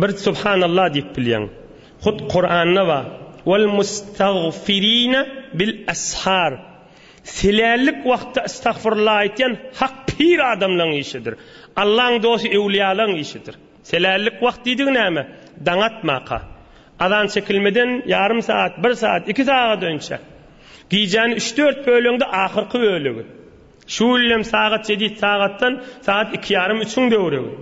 Bir subhanallah diýip bilýäň. Hut Kuranda bar, Wal mustagfirine bil ashar. Silällik wagtda istagfirullah aýtýan hak pir adamlaň işidir. Allaň dosty öwliýalaň işidir. Silällik wagt diýdigi näme? Daň atmaka. Azan çekilmeden ýarym saat, bir saat, iki sagat önçe. Gijäni üç-dört böleňde ahyrky bölegi. Şu ýylam sagat jedid sagatdan sagat iki ýarym üçiň döwrügi.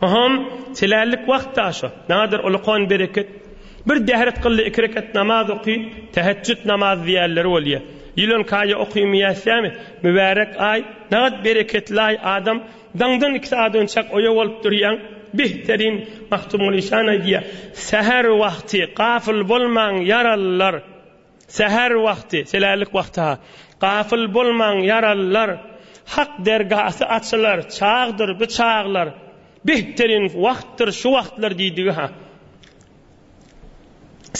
Ohom, telällik wagt-a şo. Nadir Ulukhan bereket. Bir däret kyldy iki rekat namaz oky, tähetjüt namazy diýerleri bolýa. Ýylan kaýa okymaýassämi? Mübärek aý, nagat bereketli-aý adam, daňdan iki sagat önçäk oýa bolup durýaň. Bihterin, Magtymguly şan aýdýa, Säher wagty gafyl bolmaň ýarallar. Säher wagty, selärlik wagty-ha. Gafyl bolmaň, ýaralylar! Hak dergasy açylar, çagdyr bu çaglar. Behterinn wagtdyr şu wagtlar diýdigi-ha.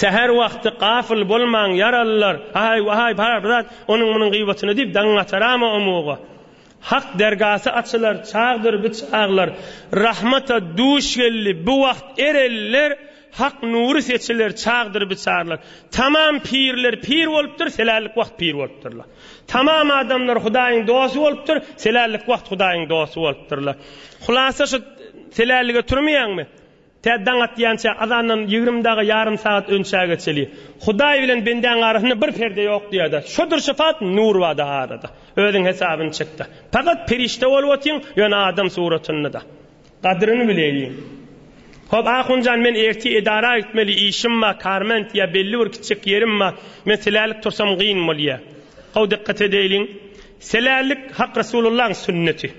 Säher wagty, gafyl bolmaň, ýaralylar! Aý, waý, bar bir zat, onuň-munuň gyýbatyna diýip, daňyň ataramy omuga? Hak dergasy açylar, çagdyr bu çaglar. Rahmata duş geldi bu wagt ereller, Hak nury seçiler, çagdyr biçarlar. Tamam pirler pir bolupdyr, selällik wagt pir bolupdyrlar. Tamam adamlar Hudaýyň dosty bolupdyr, selällik wagt Hudaýyň dosty bolupdyrlar. Hulasa şu selällige turmaýaňmy? Tä daň atýança, azandan ýigrimi dagy ýarym sagat önçä geçeli. Hudaý bilen bendäň arasynda bir perde ýok diýer-de. Şodur syfat, nur bar-da arada. Özüň hesabyny çek-de. Pakat perişde bolup otyň, ýöne adam suratynda-da. Gadyryny bileýin. Hop, Ahunjan, men ertir edara gitmeli işim bar, Karment ýa belli bir kiçijek ýerim bar, men silälik tursam gyn bolýa. How dykgat edeýliň. Silälik Hak Resulullahyň sünneti.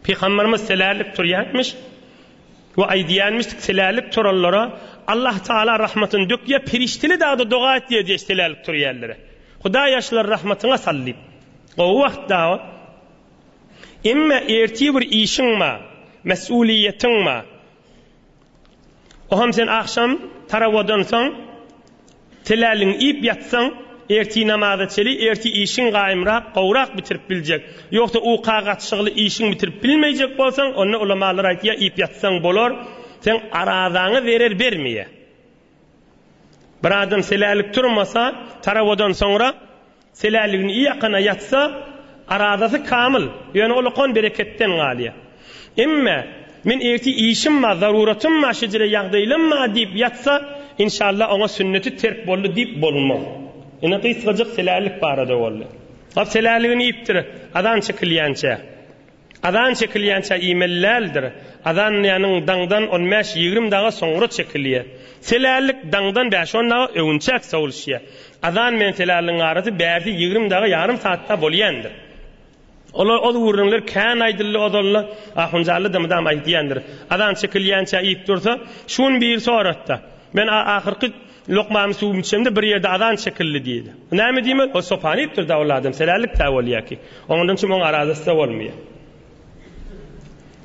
Pygamberimiz silälik turýarmyş we aýdýarmyş, silälik turanlara Allah Taala rahmatyny dökýär, perişdeli dagda doga et diýýär silälik turýanlara. Hudaý ýaşlary rahmatyňa sal diýip. Gowy wagt dawa. Emma ertir bir işiň bar, mesulyýetiň bar. Oham sen agşam tarawadan soň telälligiňi iýip ýatsaň, ertir namaza çeli ertir işiň gaýymrak, gowrak bitirip biljek. Ýogsa uka gatyşygly işiň bitirip bilmeýjek bolsaň, onda ulamalar aýtýar, iýip ýatsaň bolar, seň arazaňa zerer bermeýär. Bir adam telälik turmasa, tarawadan soňra Selälligini ýakana ýatsa, arazasy kamyl, ýöne ol okan bereketden galýar. Emme, men ertir işim bar, zaruratym bar, şejere ýagdaýlam bar diýip ýatsa, inşallah, oňa sünneti terk boldy diýip bolmaz. Ine, gysgajyk selällik barada boldy. Selälligini iýipdir, azan çekilýänçä. Azan çekilýänçä iýmeli däldir. Azanlaýanyň daňdan on bäş, ýigrimi daga soňra çekilýär. Selällik daňdan bäş-on daga öwünçäk sowulşýar. Azan bilen selälligiň arasy bärsi ýigrimi daga ýarym saatda bolýandyr. Olar ol gürrüňler kän aýdyldy ozal-la, Ahunjallada mydam aýdýandyr. Azan çekilýänçä iýip dursa, şu gün biri sorapdy. Men ahyrky Lokmamy suwumy içemde bir ýerde azan çekildi diýdi. Bu näme diýmek? Ol sopany iýipdir-dä ol adam, selälik-dä bolýar ki. Oňandan çyn oň arazasy-da bolmaýar.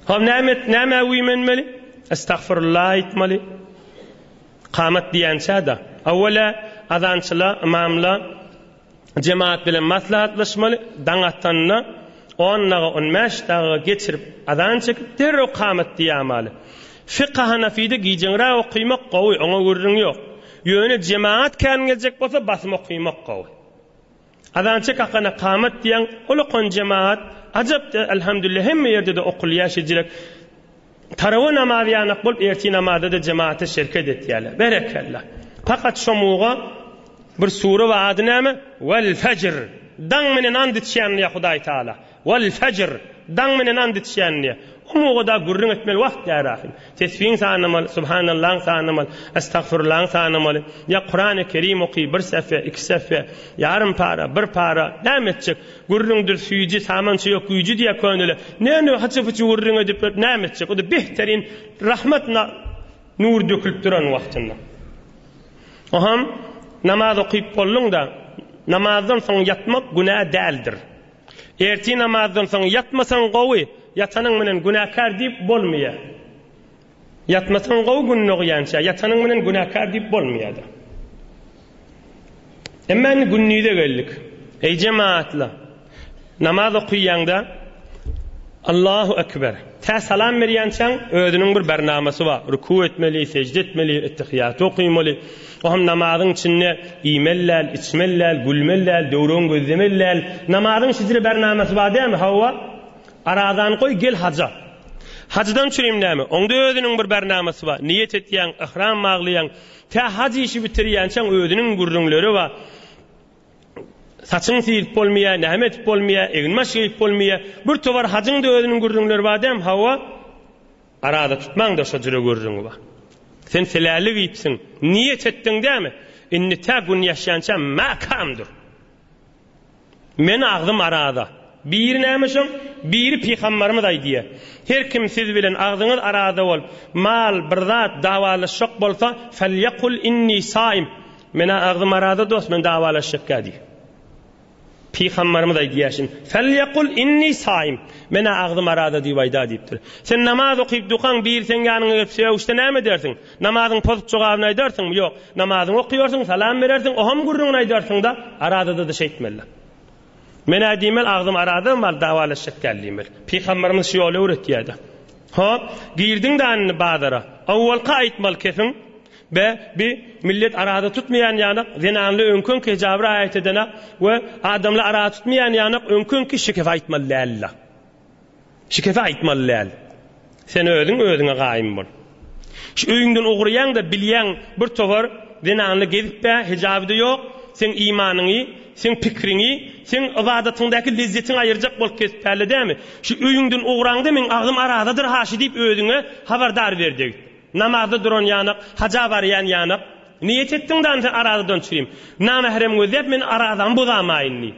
Hol näme et, nämä güýmenmeli? Estagfirullah aýtmaly. Kamat diýençä-de, awwala azançyla, ymamla, Jemagat bilen maslahatlaşmaly, daň atanda on daga, on bäş daga geçirip, azan çekip, derrew kamat diýämaly. Fika hanafide gijeňräk okymak gowy, oňa gürrüň ýok. Ýöne jemagat kän geljek bolsa basym okymak gowy. Azan çek akana kamat diýäň, ol okan jemagat ajap-da, elhamdülillah hemme ýerde-de okulýar şejirek. Tarawa namazy ýanak bolup ertir namazada jemata şerket etýärler. Berekella. Pakat şo muga bir sure bar ady näme? Wal fajr. Daň menen ant içýän diýýär Hudaý Taala. Wal fajr. Daň menen ant içýän diýýär. O muga da gürrüň etmeli wagt ýa rahym. Tesbiň sanamaly, subhanallaň sanamaly, estagfurlaň sanamaly. Ýa Kurany Kerim oky bir sähfe, iki sähfe, ýarym para, bir para. Näme etjek? Gürrüňdir süýji, samança ýok güýji diýýär köneler. Näme hyçy-pyçy gürrüň edip ýörüp näme etjek? O-da behterin rahmat nury dökülip duran wagtynda. Oham, namaz okyp bolduň-da, namazdan soň ýatmak günä däldir. Ertir namazdan soň ýatmasaň gowy, ýatanyň bilen günäkär diýip bolmaýar. Ýatmasaň gowy gün dogýança, ýatanyň bilen günäkär diýip bolmaýada. Emma indi gündize geldik. Eý jemaatla, namaz okyýaňda Allahu ekber, tä salam berýänçäň özüniň bir barnamasy bar, rükü etmeli, sežde etmeli, ettehiýaty okymaly, o hem namazyň içinde iýmeli däl, içmeli däl, gülmeli däl, döwregini gözlemeli däl, namazyň şeýdire barnamasy bar dälmi? Hawa, Arazany goý, gel haja. Hajdan çürim näme? Oňda özüniň bir barnamasy bar. Niýet etýäň, yhram baglaýaň. Tä haj işi bitirýänçäň özüniň gürrüňleri bar. Saçyňy syryp bolmaýar, näme edip bolmaýar, egin-baş geýip bolmaýar. Bir towar hajyň-da özüniň gürrüňleri bar däm, hawa? Araza tutmaň-da şo jüre gürrüňi bar. Sen seläli geýipsiň. Niýet etdiň dämi? Indi tä gün ýaşýança mäkäm dur. Men agzym arada. Biri näme şoň, biri pygambarymyz aýdýar. Her kim siz bilen agzyňyz arada bolup, mal, bir zat, dawalaşjak bolsa, Felýekul inni saim, Menä agzym arada dost, men dawalaşjak ýa diýiň. Pygambarymyz aýdýar şin, Felýekul inni saim, Menä agzym arada diýip aýda diýipdir. Sen namaz okyp dukaň, biri seň ýanyňa gelip sögüşse näme edersiň? Namazyňy pozup jogabyny aýdarsyňmy? Ýok. Namazyňy okaýarsyň, salam berersiň, oham gürrüňini aýdarsyňda, arazada-da şeýtmeli. Men-ä diýmeli, agzym araza mal dawalaşjak däl diýmeli. Pygamberimiz şu ýoly öwretýärdi. Hop, girdiň-dä indi bazara. Owalka aýtmaly kesiň. Be, bi millet araza tutmaýan ýanak, zenanly öňki-öňki hejaba raýat edene we adamly araza tutmaýan ýanak öňki-öňki şikefe aýtmaly däl-la. Şikesi aýtmaly däl. Sen özüň özüňe gaýym bol. Şu öýüňden ugraýaňda bilýäň bir towar zenanly gezip-ä hijaby-da ýok, seň imanyňy, seň pikriňi, seň ybadatyňdaky lezzetiňi aýyrjak bolup kesip bälle dämi? Şu öýüňden ugraňda meň agzym arazadyr haşy diýip özüňe habardar ber degip. Namazda duran ýanak, haja barýan ýanak. Niýet etdiň damy sen arazadan çyrym. Namahrem gözläp men arazamy bozamaýyn diýip.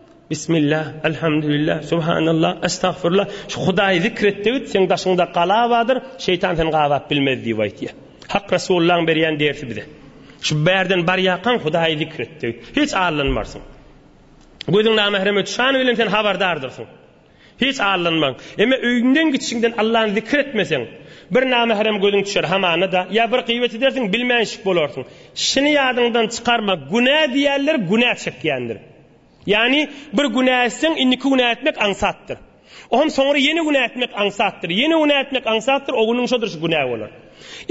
Bismillah, Elhamdülillah, Subhanallah, Estagfirullah, şu Hudaýy zikr et degit, seň daşyňda gala bardyr, şeýtan seni gabap bilmez diýip aýtýar. Hak Resulullahyň berýän dersi bize. Şu bärden barýarkaň Hudaýy zikr et degit. Hiç allanmarsyň. Gözüň namähreme düşäni bilen sen habardardyrsyň. Hiç allanmaň. Emma öýüňden gitişiňden Allany zikir etmeseň, bir namehram gözüň düşer hamana-da, ýa bir gybat edersiň, bilmänşik bolarsyň. Şuny ýadyňdan çykarma, günä diýýänler günä çekýändir. Ýagny, bir günä etseň, indiki günä etmek aňsatdyr. Oňa soňra ýene günä etmek aňsatdyr, ýene günä etmek aňsatdyr, o günüň şo durşy günä bolar.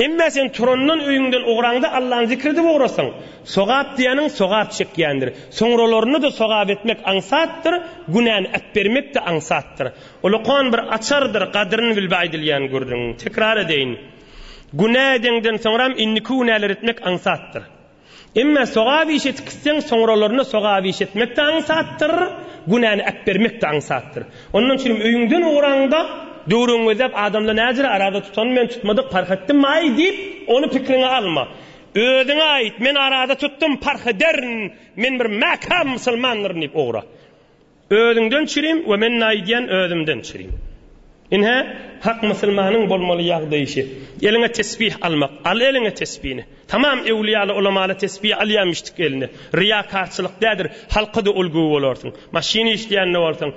Emma sen turandan öýüňden ugraňda Allany zikr edip ugrasaň, sogap diýeniň sogap çekýändir. Soňralarynda-da sogap etmek aňsatdyr, günäni äpbermek-de aňsatdyr. Ulukan bir açardyr, gadryny bil bi aýdylýan gürrüň. Tekrar edeýin. Günä edeňden soňram indiki günäleri etmek aňsatdyr. Emma sogap iş etip gitseň, soňralaryna sogap iş etmek-de aňsatdyr, günäni äpbermek-de aňsatdyr. Ondan üçin hem öýüňden ugraňda, döwrüňi gözläp adamlar näjere araza tutanmy men tutmadyk parh etdim-aý diýip, ony pikriňe alma. Özüňe aýt, men araza tutdum, parh ederin, men bir mäkäm musulmandyryn diýip ugra. Özüňden çirim we men naýdýän özümden çirim. Ynha, hak musulmanyň bolmaly ýagdaýy şe. Eliňe tesbih almak, al eliňe tesbini. Tamam ewliýaly, ulamaly tesbi alýamyşdyk eline. Ryýakarçylyk dädir, halka-da ulgy bolarsyň. Maşyn işleýän-de bolsaň,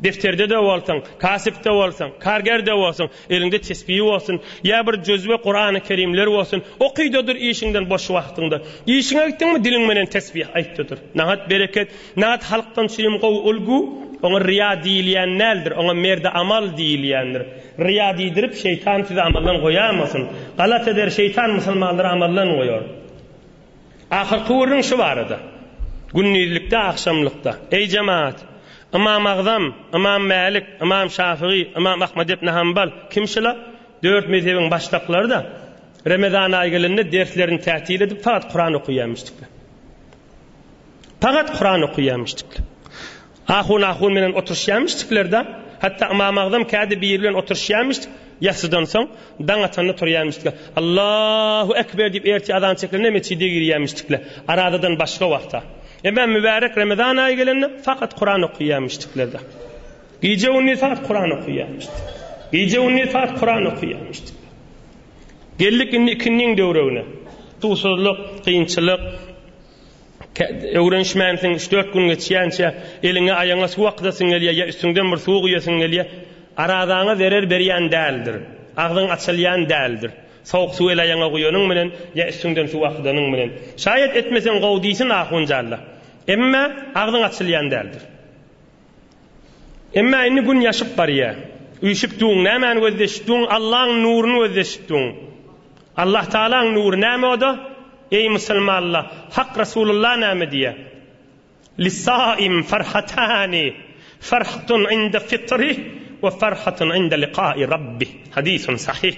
defterde-de bolsaň, kasyp-da bolsaň, karger-de bolsaň, Eliňde tesbihi bolsun, ýa bir jözbe Kurany Kerimler bolsun, okyda dur işiňden boş wagtyňda. Işiňe gitdiňmi diliň bilen tesbih aýtda dur. Nahat bereket, nahat halkdan üçinem gowy ulgu, oňa ryýa diýilýän däldir, oňa merdi amal diýilýändir. Ryýa diýdirip şeýtan sizi amaldan goýamasyn. Galat eder şeýtan musulmanlary amaldan goýar. Ahyrky gürrüň şu barada. Gündizlikde, agşamlykda, Eý, jemagat! Ymam Agzam, Ymam Mälik, Ymam Şafygy, Ymam Ahmad ibn Hambal, kim şula? Dört mezhebiň başdaklary-da Remezan aýy gelende derslerini tätil edip, fakat Kuran okaýarmyşdyklar. Fakat Kuran okaýarmyşdyklar. Ahun ahun bilen oturyşýarmyşdyklerdä, hatda Ymam Agzam kädi biri bilen oturyşýarmyşdyk, ýassydan soň, daň atanda turýarmyşdyk. Allahu ekber diýip ertir azan çekilende metjide girýärmişdikle, arazadan başga wagta. Emma mübärek Ramazan aýy gelende fakat Kuran okyýarmyşdyklerdä. Gije gündiz fakat Kuran okyýarmyşdyk. Gije gündiz fakat Kuran okyýarmyşdyk. Geldik indi ikindiň döwregine. Suwsuzlyk, kynçylyk, Öwrenişmänsiň, üç-dört gün geçýänçä eliňe-aýagyňa suw akydasyn gelýär ýa üstüňden bir suw guýasyn gelýär. Arazaňa zerer berýän däldir. Agzyň açylýan däldir. Sowuk suw el-aýagyňa guýanyň bilen ýa üstüňden suw akydanyň bilen. Şaýat etmeseň gowy diýsin ahunjalla. Emma agzyň açylýan däldir. Emma indi gün ýaşyp barýar. Üýşüpdiň, nämäni gözleşipdiň? Allaň nuruny gözleşipdiň. Allahtagalaň nury näme o-da? Eý, musulmanlar, Hak Resulullah näme diýýär? Lis-saim farhatani, farhatun inde fitrih we farhatun inde liqa'i Rabbih. Hadysun sahyh.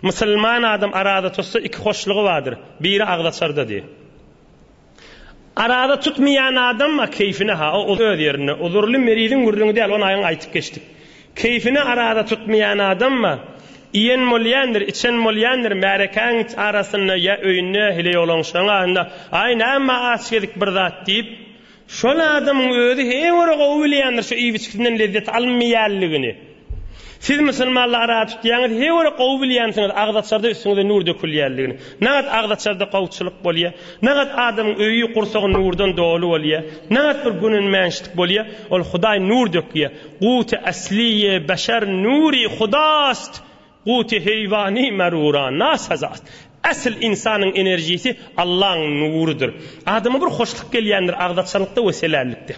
Musulman adam araza tutsa, iki hoşlugy bardyr. Biri agzaçarda diýýär. Arada tutmaýan adamma keýfine ha o öz ýerinde uzurly meriziň gürrüňi däl ony aýan aýtyp geçdik. Keýfine arada tutmaýan adamma iýen bolýandyr içen bolýandyr märekäň arasynda ýa öýünde hili ýolanşaň aýynda aý näme aç gezip bir zat diýip şol adamyň özi he görä gowy bilýändir şu iýip içgisinden lezzet alynmaýanlygyny. Siz musulmanlygy ara tutýaňyz, he görä gowy bilýänsiňiz agzaçarda üstüňize nur dökülýänligini. Nagat agzaçarda gowuçylyk bolýa, nagat adamyň öýi, gursagy nurdan doly bolýa, nagat bir günenmänçlik bolýa, ol Hudaý nur dökýä, Guwty asliýe beşer nuri hudaast Guty heýwany merura nasa zat. Esl ynsanyň enerjisi Allaň nurudyr. Adama bir hoşluk gelýändir agzaçalykda we selällikde.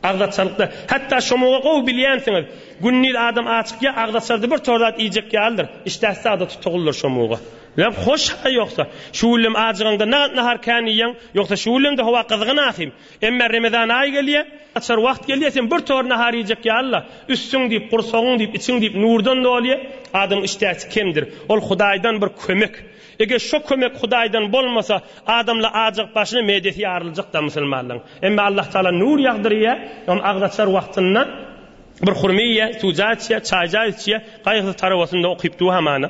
Agzaçalykda. Hatda şomuga gowy bilýänsiňiz. Gündiz adam açykýa agzaçarda bir tor zat iýjek ýalydyr. Işdäsi zada tutugyldyr şomuga. Leb hoş-a ýogsa. Şu güllem ajygaňda nagat nahar kän iýýäň. Ýogsa şu güllem-de howa gyzgyn ahym. Emme Remezan aýy gelýä, açar wagt gelýä sen bir tor nahar iýjek ýalyla, üstüň diýip, gursagyň diýip, içiň diýip nurdan dolýa, adamyň işdäsi kemdir. Ol Hudaýdan bir kömek. Eger şo kömek Hudaýdan bolmasa, adamla ajygyp başyny medesi ýaryljakda musulmanlaň. Emme Allah Taala nur ýagdyrýa, ol agzaçar wagtynda bir hurma iýýä, suwja içýä, çaýja içýä, gaýgysyz tarabasynda okyp duhamana.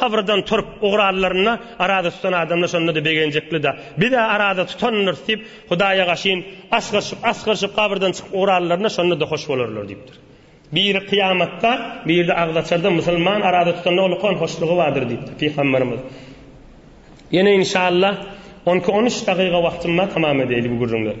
Habradan turup ugrarlarynda arada tutan adamlar şonda-da begenjekli-dä. Biz-ä arada tutandyrys diýip, Hudaýa gaşyn asgyryşyp, asgyryşyp habradan çykyp ugrarlarynda şonda-da hoş bolarlar diýipdir. Biri kyýamatda, biri-de agzaçarda musulman arada tutanda ulkan hoşlugy bardyr diýipdir pygamberimiz. Ýene inşallah on iki-on üç dagyga wagtym bar tamam edäýli bu gürrüňleri.